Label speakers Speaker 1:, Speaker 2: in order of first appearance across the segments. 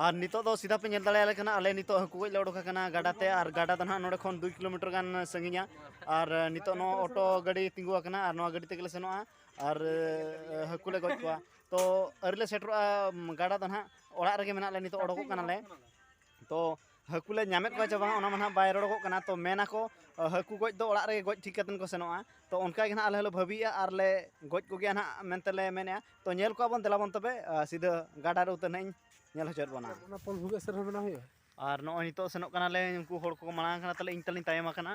Speaker 1: ᱟᱨ ᱱᱤᱛᱚᱜ ᱫᱚ ᱥᱤᱫᱷᱟ ᱯᱮ ᱧᱮᱞ ᱫᱟᱲᱮᱭᱟᱞᱮ ᱠᱟᱱᱟ ᱟᱞᱮ ᱱᱤᱛᱚᱜ ᱦᱟᱹᱠᱩ ᱜᱚᱡ ᱞᱮ ᱚᱰᱚᱠ ᱟᱠᱟᱱᱟ ᱜᱟᱰᱟ ᱛᱮ ᱟᱨ ᱜᱟᱰᱟ ᱫᱚ ᱱᱟᱦᱟᱜ ᱱᱚᱰᱮ ᱠᱷᱚᱱ ᱫᱩᱭ ᱠᱤᱞᱳᱢᱤᱴᱟᱨ ᱜᱟᱱ ᱥᱟᱺᱜᱤᱧᱟ ᱟᱨ ᱱᱤᱛᱚᱜ ᱱᱚᱣᱟ ᱚᱴᱳ ᱜᱟᱹᱰᱤ ᱛᱤᱸᱜᱩ ᱟᱠᱟᱱᱟ ᱟᱨ ᱱᱚᱣᱟ ᱜᱟᱹᱰᱤ ᱛᱮᱜᱮ ᱞᱮ ᱥᱮᱱᱚᱜᱼᱟ ᱟᱨ ᱦᱟᱹᱠᱩ ᱞᱮ ᱜᱚᱡ ᱠᱚᱣᱟ ᱛᱚ ᱟᱹᱣᱨᱤ ᱞᱮ ᱥᱮᱴᱮᱨᱚᱜᱼᱟ ᱜᱟᱰᱟ ᱫᱚ ᱱᱟᱦᱟᱜ ᱚᱲᱟᱜ ᱨᱮᱜᱮ ᱢᱮᱱᱟᱜ ᱞᱮᱭᱟ ᱱᱤᱛᱚᱜ ᱚᱰᱚᱠᱚᱜ ᱠᱟᱱᱟᱞᱮ ᱛᱚ ᱦᱟᱹᱠᱩ ᱞᱮ ᱧᱟᱢᱮᱫ ᱠᱚᱣᱟ ᱪᱮ ᱵᱟᱝ ᱚᱱᱟ ᱢᱟ ᱱᱟᱦᱟᱜ ᱵᱟᱭ ᱨᱚᱲᱚᱜᱚᱜ ᱠᱟᱱᱟ ᱛᱚ ᱢᱮᱱᱟᱠᱚ ᱦᱟᱹᱠᱩ ᱜᱚᱡ ᱫᱚ ᱚᱲᱟᱜ ᱨᱮᱜᱮ ᱜᱚᱡ ᱴᱷᱤᱠ ᱠᱟᱛᱮᱫ ᱠᱚ ᱥᱮᱱᱚᱜᱼᱟ ᱛᱚ ᱚᱱᱠᱟ ᱜᱮ ᱱᱟᱦᱟᱜ ᱟᱞᱮ ᱦᱚᱸᱞᱮ ᱵᱷᱟᱹᱵᱤᱭᱮᱫᱼᱟ ᱟᱨ ᱞᱮ ᱜᱚᱡ ᱠᱚᱜᱮᱭᱟ ᱱᱟᱦᱟᱜ ᱢᱮᱱᱛᱮ ᱞᱮ ᱢᱮᱱᱮᱫᱼᱟ ᱛᱚ ᱧᱮᱞ ᱠᱚᱣᱟ ᱵᱚᱱ ᱫᱮᱞᱟ ᱵᱚᱱ ᱛᱚᱵᱮ ᱥᱤᱫᱷᱟᱹ ᱜᱟᱰᱟ ᱨᱮ ᱩᱛᱟᱹᱨ ᱱᱟᱦᱟᱜ ᱤᱧ ᱧᱮᱞ ᱦᱚᱪᱚᱭᱮᱫ ᱵᱚᱱᱟ ᱚᱱᱟ ᱯᱚᱞ ᱵᱷᱩᱜᱟᱹᱜ ᱥᱮᱫ ᱨᱮᱦᱚᱸ ᱵᱮᱱᱟᱣ
Speaker 2: ᱦᱩᱭᱩᱜᱼᱟ ᱟᱨ ᱱᱚᱜᱼᱚᱭ ᱱᱤᱛᱚᱜ
Speaker 1: ᱥᱮᱱᱚᱜ ᱠᱟᱱᱟᱞᱮ ᱩᱱᱠᱩ ᱦᱚᱲ ᱠᱚ ᱢᱟᱲᱟᱝ ᱠᱟᱱᱟ ᱛᱟᱞᱮ ᱤᱧ ᱛᱟᱞᱤᱧ ᱛᱟᱭᱚᱢ ᱟᱠᱟᱱᱟ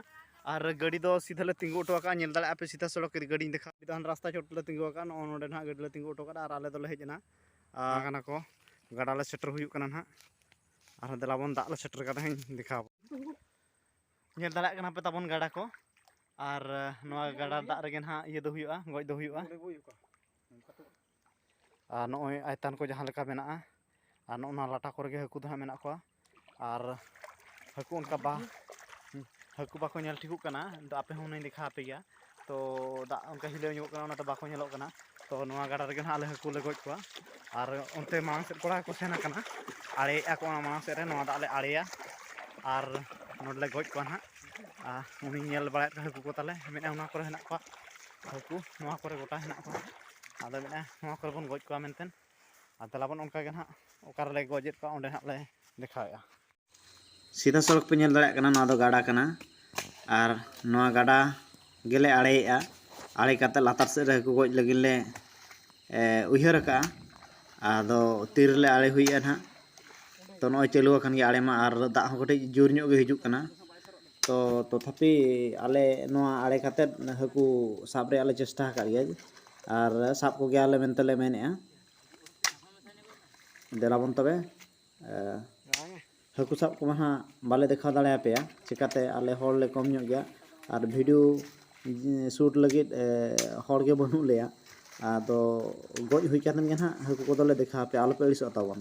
Speaker 1: ᱟᱨ ᱜᱟᱹᱰᱤ ᱫᱚ ᱥᱤᱫᱷᱟᱹ ᱞᱮ ᱛᱤᱸᱜᱩ ᱦᱚᱴᱚ ᱟᱠᱟᱫᱼᱟ ᱧᱮᱞ ᱫᱟᱲᱮᱭᱟᱜᱼᱟ ᱯᱮ ᱥᱤᱫᱷᱟ ᱥᱚᱲᱚᱠ ᱜᱟᱹᱰᱤᱧ ᱫᱮᱠᱷᱟᱣ ᱠᱮᱫᱟ ᱨᱟᱥᱛᱟ ᱪᱚᱴ ᱞᱮ ᱛᱤᱸᱜᱩ ᱟᱠᱟᱫᱼᱟ ᱱᱚᱜᱼᱚ ᱱᱚᱰᱮ ᱱᱟᱦᱟᱜ ᱜᱟᱹᱰᱤ ᱞᱮ ᱛᱤᱸᱜᱩ ᱦᱚᱴᱚ ᱠᱟᱫᱟ ᱟᱨ ᱟᱞᱮ ᱫᱚᱞᱮ ᱦᱮᱡ ᱮᱱᱟ ᱠᱟᱱᱟ ᱠᱚ ᱜᱟᱰᱟ ᱞᱮ ᱥᱮᱴᱮᱨ ᱦᱩᱭᱩᱜ ᱠᱟᱱᱟ ᱱᱟᱦᱟᱜ ᱟᱨᱦᱚᱸ ᱫᱮᱞᱟ ᱵᱚᱱ ᱫᱟᱜ ᱞᱮ ᱥᱮᱴᱮᱨ ᱠᱟᱫᱟ ᱦᱮᱸ ᱫᱮᱠᱷᱟᱣ ᱧᱮᱞ ᱫᱟᱲᱮᱭᱟᱜ ᱠᱟᱱᱟ ᱯᱮ ᱛᱟᱵᱚᱱ ᱜᱟᱰᱟ ᱠᱚ ᱟᱨ ᱱᱚᱣᱟ ᱜᱟᱰᱟ ᱫᱟᱜ ᱨᱮᱜᱮ ᱱᱟᱦᱟᱜ ᱤᱭᱟᱹ ᱫᱚ ᱦᱩᱭᱩᱜᱼᱟ ᱜᱚᱡ ᱫᱚ ᱦᱩᱭᱩᱜᱼᱟ ᱟᱨ ᱱᱚᱜᱼᱚᱭ ᱟᱭᱛᱟᱱ ᱠᱚ ᱡᱟᱦᱟᱸ ᱞᱮᱠᱟ ᱢᱮᱱᱟᱜᱼᱟ ᱟᱨ ᱱᱚᱜᱼᱚ ᱱᱚᱣᱟ ᱞᱟᱴᱟ ᱠᱚᱨᱮ ᱜᱮ ᱦᱟᱹᱠᱩ ᱫᱚ ᱦᱟᱸᱜ ᱢᱮᱱᱟᱜ ᱠᱚᱣᱟ ᱟᱨ ᱦᱟᱹᱠᱩ ᱚᱱᱠᱟ ᱵᱟ ᱦᱟᱹᱠᱩ ᱵᱟᱠᱚ ᱧᱮᱞ ᱴᱷᱤᱠᱚᱜ ᱠᱟᱱᱟ ᱟᱫᱚ ᱟᱯᱮ ᱦᱚᱸ ᱦᱩᱱᱟᱹᱝ ᱫᱮᱠᱷᱟᱣ ᱟᱯᱮ ᱜᱮᱭᱟ ᱛᱚ ᱫᱟᱜ ᱚᱱᱠᱟ ᱦᱤᱞᱟᱹᱣ ᱧᱚᱜᱚᱜ ᱠᱟᱱᱟ ᱚᱱᱟᱛᱮ ᱵᱟᱠᱚ ᱧᱮᱞᱚᱜ ᱠᱟᱱᱟ ᱛᱚ ᱱᱚᱣᱟ ᱜᱟᱰᱟ ᱨᱮᱜᱮ ᱱᱟᱦᱟᱜ ᱟᱞᱮ ᱦᱟᱹᱠᱩ ᱞᱮ ᱜᱚᱡ ᱠᱚᱣᱟ ᱟᱨ ᱚᱱᱛᱮ ᱢᱟᱲᱟᱝ ᱥᱮᱫ ᱠᱚᱲᱟ ᱠᱚ ᱥᱮᱱ ᱟᱠᱟᱱᱟ ᱟᱲᱮᱭᱮᱫᱼᱟ ᱠᱚ ᱚᱱᱟ ᱢᱟᱲᱟᱝ ᱥᱮᱫ ᱨᱮ ᱱᱚᱣᱟ ᱫᱟᱜ ᱞᱮ ᱟᱲᱮᱭᱟ ᱟᱨ ᱱᱚᱰᱮ ᱞᱮ ᱜᱚᱡ ᱠᱚᱣᱟ ᱱᱟᱦᱟᱜ ᱟᱨ ᱩᱱᱤ ᱧᱮᱞ ᱵᱟᱲᱟᱭᱮᱫ ᱠᱚᱣᱟ ᱦᱟᱹᱠᱩ ᱠᱚ ᱛᱟᱞᱮ ᱢᱮᱱᱮᱫᱼᱟ ᱚᱱᱟ ᱠᱚᱨᱮ ᱦᱮᱱᱟᱜ ᱠᱚᱣᱟ ᱦᱟᱹᱠᱩ ᱱᱚᱣᱟ ᱠᱚᱨᱮ ᱜᱚᱴᱟ ᱦᱮᱱᱟᱜ ᱠᱚᱣᱟ ᱟᱫᱚ ᱢᱮᱱᱮᱫᱼᱟ ᱱᱚᱣᱟ ᱠᱚᱨᱮ ᱵᱚᱱ ᱜᱚᱡ ᱠᱚᱣᱟ ᱢᱮᱱᱛᱮ ᱟᱨ ᱫᱮᱞᱟᱵᱚᱱ ᱚᱱᱠᱟ ᱜᱮ ᱱᱟᱦᱟᱜ ᱚᱠᱟ ᱨᱮᱞᱮ ᱜᱚᱡᱮᱫ ᱠᱚᱣᱟ ᱚᱸᱰᱮ ᱱᱟᱦᱟᱜ ᱞᱮ ᱫᱮᱠᱷᱟᱣᱮᱫᱼᱟ ᱥᱤᱫᱷᱟ ᱥᱚᱲᱚᱠ ᱯᱮ ᱧᱮᱞ ᱫᱟᱲᱮᱭᱟᱜ ᱠᱟᱱᱟ ᱱᱚᱣᱟ ᱫᱚ ᱜᱟᱰᱟ ᱠᱟᱱᱟ ᱟᱨ ᱱᱚᱣᱟ ᱜᱟᱰᱟ ᱜᱮᱞᱮ ᱟᱲᱮᱭᱮᱜᱼᱟ ᱟᱲᱮ ᱠᱟᱛᱮ ᱞᱟᱛᱟᱨ ᱥᱮᱫ ᱨᱮ ᱦᱟᱹᱠᱩ ᱜᱚᱡ ᱞᱟᱹᱜᱤᱫ ᱞᱮ ᱩᱭᱦᱟᱹᱨ ᱟᱠᱟᱜᱼᱟ ᱟᱫᱚ ᱛᱤ ᱨᱮᱞᱮ ᱟᱲᱮ ᱦᱩᱭᱩᱜᱼᱟ ᱱᱟᱦᱟᱜ ᱛᱚ ᱱᱚᱜᱼᱚᱭ ᱪᱟᱹᱞᱩ ᱟᱠᱟᱱ ᱜᱮᱭᱟ ᱟᱲᱮ ᱢᱟ ᱟᱨ ᱫᱟᱜ ᱦᱚᱸ ᱠᱟᱹᱴᱤᱡ ᱡᱳᱨ ᱧᱚᱜ ᱜᱮ ᱦᱤᱡᱩᱜ ᱠᱟᱱᱟ ᱛᱚ ᱛᱚᱛᱷᱟᱯᱤ ᱟᱞᱮ ᱱᱚᱣᱟ ᱟᱲᱮ ᱠᱟᱛᱮ ᱦᱟᱹᱠᱩ ᱥᱟᱵ ᱨᱮᱭᱟᱜ ᱞᱮ ᱪᱮᱥᱴᱟ ᱟᱠᱟᱫ ᱜᱮᱭᱟ ᱟᱨ ᱥᱟᱵ ᱠᱚᱜᱮᱭᱟᱞᱮ ᱢᱮᱱᱛᱮ ᱞᱮ ᱢᱮᱱᱮᱜᱼᱟ ᱫᱮᱞᱟᱵᱚᱱ ᱛᱚᱵᱮ ᱦᱟᱹᱠᱩ ᱥᱟᱵ ᱠᱚᱢᱟ ᱦᱟᱸᱜ ᱵᱟᱞᱮ ᱫᱮᱠᱷᱟᱣ ᱫᱟᱲᱮᱭᱟᱯᱮᱭᱟ ᱪᱤᱠᱟᱹᱛᱮ ᱟᱞᱮ ᱦᱚᱲ ᱞᱮ ᱠᱚᱢ ᱧᱚᱜ ᱜᱮᱭᱟ ᱟᱨ ᱵᱷᱤᱰᱤᱭᱳ ᱥᱩᱴ ᱞᱟᱹᱜᱤᱫ ᱦᱚᱲ ᱜᱮ ᱵᱟᱹᱱᱩᱜ ᱞᱮᱭᱟ ᱟᱫᱚ ᱜᱚᱡ ᱦᱩᱭ ᱠᱟᱛᱮᱫ ᱜᱮ ᱦᱟᱸᱜ ᱦᱟᱹᱠᱩ ᱠᱚᱫᱚᱞᱮ ᱫᱮᱠᱷᱟᱣ ᱟᱯᱮᱭᱟ ᱟᱞᱚᱯᱮ ᱟᱹᱲᱤᱥᱚᱜ ᱛᱟᱵᱚᱱ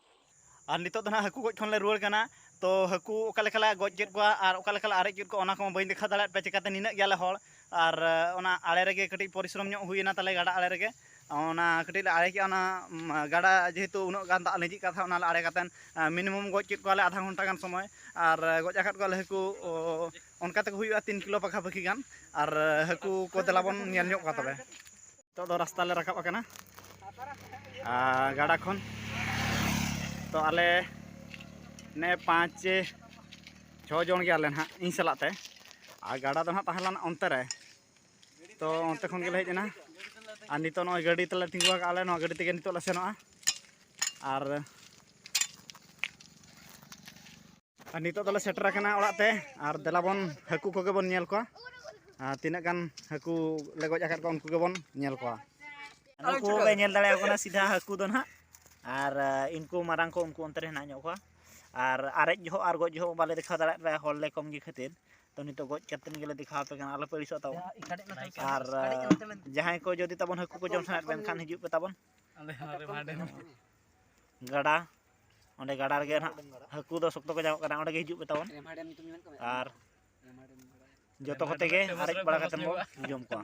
Speaker 1: ᱟᱨ ᱱᱤᱛᱚᱜ ᱫᱚ ᱱᱟᱦᱟᱜ ᱦᱟᱹᱠᱩ ᱜᱚᱡ ᱠᱷᱚᱱ ᱞᱮ ᱨᱩᱣᱟᱹᱲ ᱠᱟᱱᱟ ᱛᱚ ᱦᱟᱹᱠᱩ ᱚᱠᱟ ᱞᱮᱠᱟ ᱞᱮ ᱜᱚᱡ ᱠᱮᱫ ᱠᱚᱣᱟ ᱟᱨ ᱚᱠᱟ ᱞᱮᱠᱟ ᱞᱮ ᱟᱨᱮᱡ ᱠᱮᱫ ᱠᱚᱣᱟ ᱚᱱᱟ ᱠᱚᱢᱟ ᱵᱟᱹᱧ ᱫᱮᱠᱷᱟᱣ ᱫᱟᱲᱮᱭᱟᱫ ᱯᱮᱭᱟ ᱪᱤᱠᱟᱹᱛᱮ ᱱᱤᱱᱟᱹᱜ ᱜᱮᱭᱟᱞᱮ ᱦᱚᱲ ᱟᱨ ᱚᱱᱟ ᱟᱲᱮ ᱨᱮᱜᱮ ᱠᱟᱹᱴᱤᱡ ᱯᱚᱨᱤᱥᱨᱚᱢ ᱧᱚᱜ ᱦᱩᱭᱮᱱᱟ ᱛᱟᱞᱮ ᱜᱟᱰᱟ ᱟᱲᱮ ᱨᱮᱜᱮ ᱚᱱᱟ ᱠᱟᱹᱴᱤᱡ ᱞᱮ ᱟᱲᱮ ᱠᱮᱫᱼᱟ ᱚᱱᱟ ᱜᱟᱰᱟ ᱡᱮᱦᱮᱛᱩ ᱩᱱᱟᱹᱜ ᱜᱟᱱ ᱫᱟᱜ ᱞᱤᱸᱡᱤᱜ ᱠᱟᱱ ᱛᱟᱦᱮᱸᱫ ᱚᱱᱟ ᱞᱮ ᱟᱲᱮ ᱠᱟᱛᱮᱫ ᱢᱤᱱᱤᱢᱟᱢ ᱜᱚᱡ ᱠᱮᱫ ᱠᱚᱣᱟᱞᱮ ᱟᱫᱷᱟ ᱜᱷᱚᱱᱴᱟ ᱜᱟᱱ ᱥᱚᱢᱚᱭ ᱟᱨ ᱜᱚᱡ ᱟᱠᱟᱫ ᱠᱚᱣᱟᱞᱮ ᱦᱟᱹᱠᱩ ᱚᱱᱠᱟ ᱛᱮᱠᱚ ᱦᱩᱭᱩᱜᱼᱟ ᱛᱤᱱ ᱠᱤᱞᱳ ᱯᱟᱠᱷᱟ ᱯᱟᱹᱠᱷᱤ ᱜᱟᱱ ᱟᱨ ᱦᱟᱹᱠᱩ ᱠᱚ ᱫᱮᱞᱟ ᱵᱚᱱ ᱧᱮᱞ ᱧᱚᱜ ᱠᱚᱣᱟ ᱛᱚᱵᱮ ᱱᱤᱛᱚᱜ ᱫᱚ ᱨᱟᱥᱛᱟ ᱞᱮ ᱨᱟᱠᱟᱵ ᱟᱠᱟᱱᱟ ᱜᱟᱰᱟ ᱠᱷᱚᱱ ᱛᱚ ᱟᱞᱮ ᱱᱮ ᱯᱟᱸᱪ ᱪᱷᱚ ᱡᱚᱱ ᱜᱮᱭᱟᱞᱮ ᱱᱟᱦᱟᱜ ᱤᱧ ᱥᱟᱞᱟᱜ ᱛᱮ ᱟᱨ ᱜᱟᱰᱟ ᱫᱚ ᱱᱟᱦᱟᱜ ᱛᱟᱦᱮᱸ ᱞᱮᱱᱟ ᱚᱱᱛᱮ ᱨᱮ ᱛᱚ ᱚᱱᱛᱮ ᱠᱷᱚᱱ ᱜᱮᱞᱮ ᱦᱮᱡ ᱮᱱᱟ ᱟᱨ ᱱᱤᱛᱚᱜ ᱱᱚᱜᱼᱚᱭ ᱜᱟᱹᱰᱤ ᱛᱮᱞᱮ ᱛᱤᱸᱜᱩ ᱟᱠᱟᱫ ᱟᱞᱮ ᱱᱚᱣᱟ ᱜᱟᱹᱰᱤ ᱛᱮᱜᱮ ᱱᱤᱛᱚᱜ ᱞᱮ ᱥᱮᱱᱚᱜᱼᱟ ᱟᱨ ᱟᱨ ᱱᱤᱛᱚᱜ ᱫᱚᱞᱮ ᱥᱮᱴᱮᱨ ᱟᱠᱟᱱᱟ ᱚᱲᱟᱜ ᱛᱮ ᱟᱨ ᱫᱮᱞᱟ ᱵᱚᱱ ᱦᱟᱹᱠᱩ ᱠᱚᱜᱮ ᱵᱚᱱ ᱧᱮᱞ ᱠᱚᱣᱟ ᱟᱨ ᱛᱤᱱᱟᱹᱜ ᱜᱟᱱ ᱦᱟᱹᱠᱩ ᱞᱮ ᱜᱚᱡ ᱟᱠᱟᱫ ᱠᱚᱣᱟ ᱩᱱᱠᱩ ᱜᱮᱵᱚᱱ ᱧᱮᱞ ᱠᱚᱣᱟ ᱱᱩᱠᱩ ᱯᱮ ᱧᱮᱞ ᱫᱟᱲᱮᱭᱟᱠᱚ ᱠᱟᱱᱟ ᱥᱤᱫᱷᱟ ᱦᱟᱹᱠᱩ ᱫᱚ ᱱᱟᱦᱟᱜ ᱟᱨ ᱤᱱᱠᱩ ᱢᱟᱨᱟᱝ ᱠᱚ ᱩᱱᱠᱩ ᱚᱱᱛᱮ ᱨᱮ ᱦᱮᱱᱟᱜ ᱧᱚᱜ ᱠᱚᱣᱟ ᱟᱨ ᱟᱨᱮᱡ ᱡᱚᱦᱚᱜ ᱟᱨ ᱜᱚᱡ ᱡᱚᱦᱚᱜ ᱵᱟᱞᱮ ᱫᱮᱠᱷᱟᱣ ᱫᱟᱲᱮᱭᱟᱜ ᱯᱮᱭᱟ ᱦᱚᱲ ᱞᱮ ᱠᱚᱢ ᱜᱮ ᱠᱷᱟᱹᱛᱤᱨ ᱛᱚ ᱱᱤᱛᱚᱜ ᱜᱚᱡ ᱠᱟᱛᱮᱫ ᱜᱮᱞᱮ ᱫᱮᱠᱷᱟᱣ ᱟᱯᱮ ᱠᱟᱱᱟ ᱟᱞᱚᱯᱮ ᱟᱹᱲᱤᱥᱚᱜ ᱛᱟᱵᱚᱱ ᱟᱨ ᱡᱟᱦᱟᱸᱭ ᱠᱚ ᱡᱩᱫᱤ ᱛᱟᱵᱚᱱ ᱦᱟᱹᱠᱩ ᱠᱚ ᱡᱚᱢ ᱥᱟᱱᱟᱭᱮᱫ ᱯᱮ ᱮᱱᱠᱷᱟᱱ ᱦᱤᱡᱩᱜ ᱯᱮ ᱛᱟᱵᱚᱱ ᱜᱟᱰᱟ ᱚᱸᱰᱮ ᱜᱟᱰᱟ ᱨᱮᱜᱮ ᱱᱟᱦᱟᱜ ᱦᱟᱹᱠᱩ ᱫᱚ ᱥᱚᱠᱛᱚ ᱠᱚ ᱧᱟᱢᱚᱜ ᱠᱟᱱᱟ ᱚᱸᱰᱮ ᱜᱮ ᱦᱤᱡᱩᱜ ᱯᱮ ᱛᱟᱵᱚᱱ ᱟᱨ ᱡᱚᱛᱚ ᱠᱚᱛᱮ ᱜᱮ ᱟᱨᱮᱡ ᱵᱟᱲᱟ ᱠᱟᱛᱮ ᱵᱚᱱ ᱡᱚᱢ ᱠᱚᱣᱟ